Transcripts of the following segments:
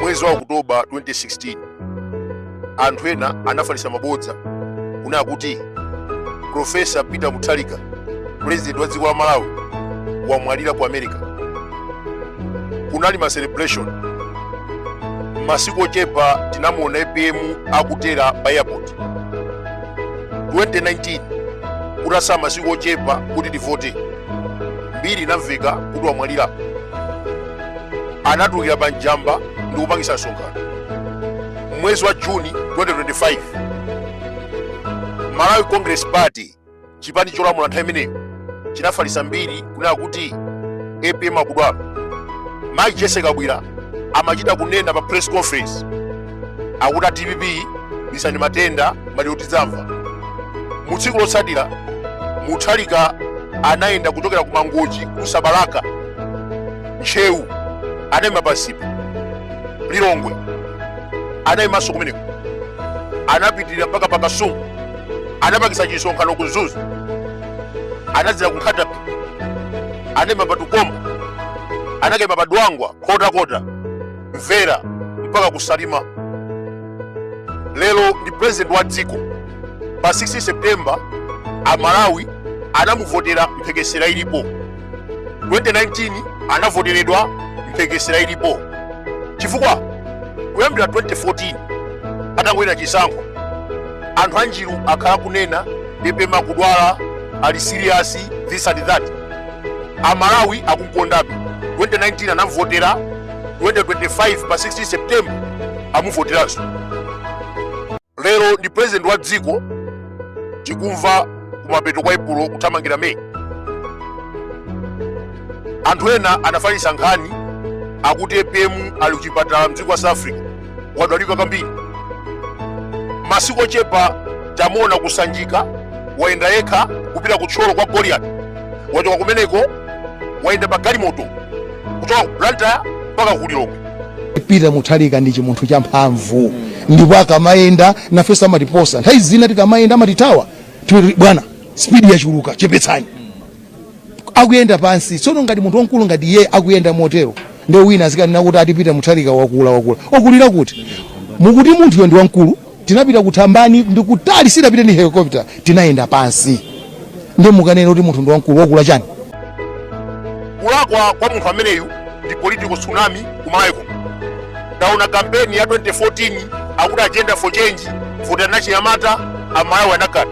mwezi wa okutoba 2016 anthu ena anafalitsa mabodza kunena kuti profesa peter mutharika pulezidenti wa dziko la malawi wamwalira ku america kunali ma celebration masiku ochepa tinamuona apm akutera pa airport 2019 kutatsala masiku ochepa kuti tivote mbiri inamveka kuti wamwalira anatulukira pa njamba ndi kupangisa msonkhano mwezi wa juni 2025 malawi congress party chipani cholamula nthawi imeneyo chinafalitsa mbiri kunena kuti apm akudwala mayi jese kabwira amachita kunena pa press conference akuti a dpp bisani matenda maliro tidzamva mu tsiku lotsatira muthalika anayenda kuchokera ku mangochi kusa balaka ntcheu anayima pansipe lilongwe anayimanso kumeneko anapitirira mpaka pa kasungu anapangisa chisonkhano ku mzuzu anadzera ku nkhata bay anayima pa tukombo anakayima pa dwangwa nkhotakota mvera mpaka ku salima lero ndi president wa dziko pa 16 september amalawi anamuvotera mphekesera ilipo 2019 anavoteredwa mphekesera ilipo chifukwa kuyambira 2014 atangowina chisankho anthu anjiru akhala akunena apm akudwala ali serious this and that amalawi akumkondabe 2019 anamvotera 2025 pa 16 september amuvoteranso lero ndi president wa dziko tikumva kumapeto kwa epulo kuthamangira meyi anthu ena anafalitsa nkhani akuti apm ali kuchipatala mdziko la south africa wadwalika kwambiri masiku ochepa tamuona ku sanjika wayenda yekha kupita ku thyolo kwa goliati wachoka kumeneko wayenda pa galimoto kuchoka ku blantyre mpaka ku lilongwe peter muthalika ndi chimunthu cha mphamvu ndipo akamayenda nafenso amatiposa nthawi zina tikamayenda amatithawa timati bwana spidi yachuluka chepetsani akuyenda pansi tsono ngati munthu wamkulu ngati iye akuyenda motero nde wina azikanena kuti ati peter muthalika wakula wakula akulira kuti mukuti munthuyo ndi wamkulu Tinapita ku Thambani ndi kutali sitinapite ndi helicopter tinayenda pansi nde mukanene kuti munthu ndi wamkulu wakula chani. Kulakwa kwa munthu ameneyu ndi political tsunami ku Malawi kuno. Taona kampeni ya 2014 akuti agenda for change votani achinyamata a Malawi anakana.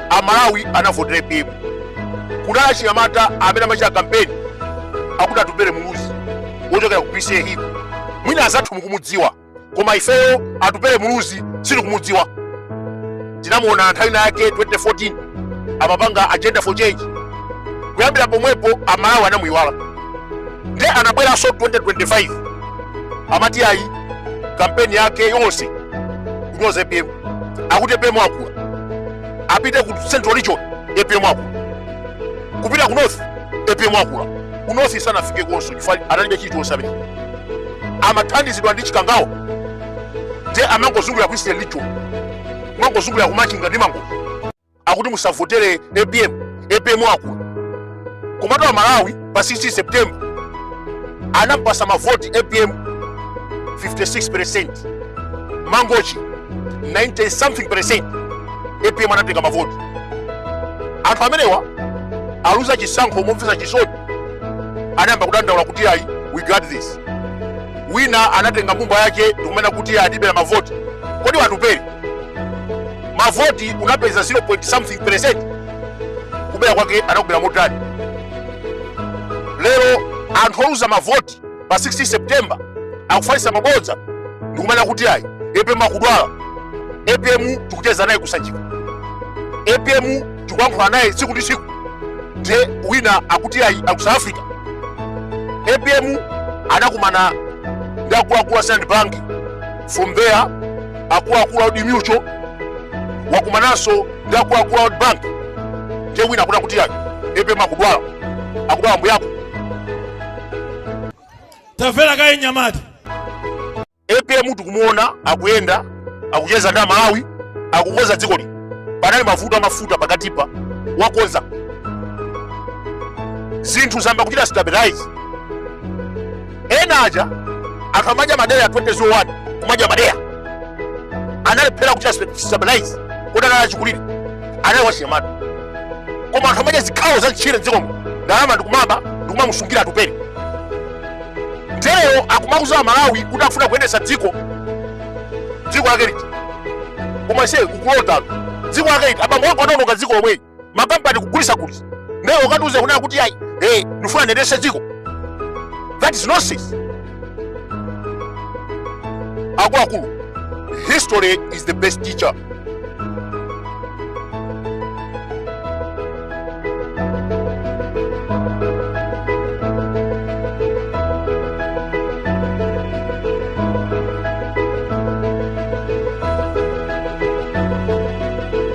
amalawi anavotera apm kunali achinyamata amene amachita kampeni akuti atupere muluzi wochokera ku bca hill ko mwina azathu mukumudziwa koma ifeyo atupere muluzi sitikumudziwa tinamuona nthawi inayake 2014 amapanga agenda for change kuyambira pomwepo amalawi anamuyiwala nde anabweranso 2025 amati ayi kampeni yake yonse kunyoza apm akuti apm akula apite ku central region apm akula kupita ku north apm akula ku north sanafike konso chifukwa analibe chilichonse amene amathandizidwa ndi chikangawa nde amangozungulira ku eastern region kumangozungulira kumachinga ndi mangochi akuti musavotere apm apm wakula komatu amalawi pa 16 september anampasa mavoti apm 56 percent mangochi 90 something percent apm anatenga mavoti anthu amenewa ataluza chisankho momvesa chisoni anayamba kudandaula kuti ayi we got this wina anatenga mbumba yake ndikumanena kuti atibera mavoti kodi iwe atupere mavoti unapeza 0 point something percent kubera kwake anakubera motani lero anthu oluza mavoti pa 16 september akufalitsa mabodza ndikumanena kuti ayi apm akudwala apm tikucheza naye kusanjika apm tikuyankhula naye tsiku ndi tsiku nde wina akuti ayi ali ku south africa apm anakumana ndi akuluakulu a standard bank from there akuluakulu a Old Mutual wakumananso ndi akuluakulu a World Bank ndiye wina akuti kuti apm akudwala akudwala mbuyako tamvera kaye mnyamata apm tikumuona akuyenda akucheza ndi amalawi akukonza dzikoli panali mavuto amafuta pakatipa wakonza zinthu zayamba kuchita stabilize ena aja anthu amadya madeya 2001 kumadya madeya analephera kuchita stabilize kodi anali wachikulire anali wachinyamata koma anthu amadya zikhawo za mtchire mdziko muno ndalama ndikumaba ndikumamusungira atupere nde leroyo akumauza amalawi kuti akufuna kuyendetsa dziko dziko lake liti komatu ase ukulotatu dziko lake liti abambo ako anaononga dziko lomweli makampani kugulisa gulisa naye ukatiuze kunena kuti ayi eh, ndifuna ndendese dziko that is nonsense akuluakulu history is the best teacher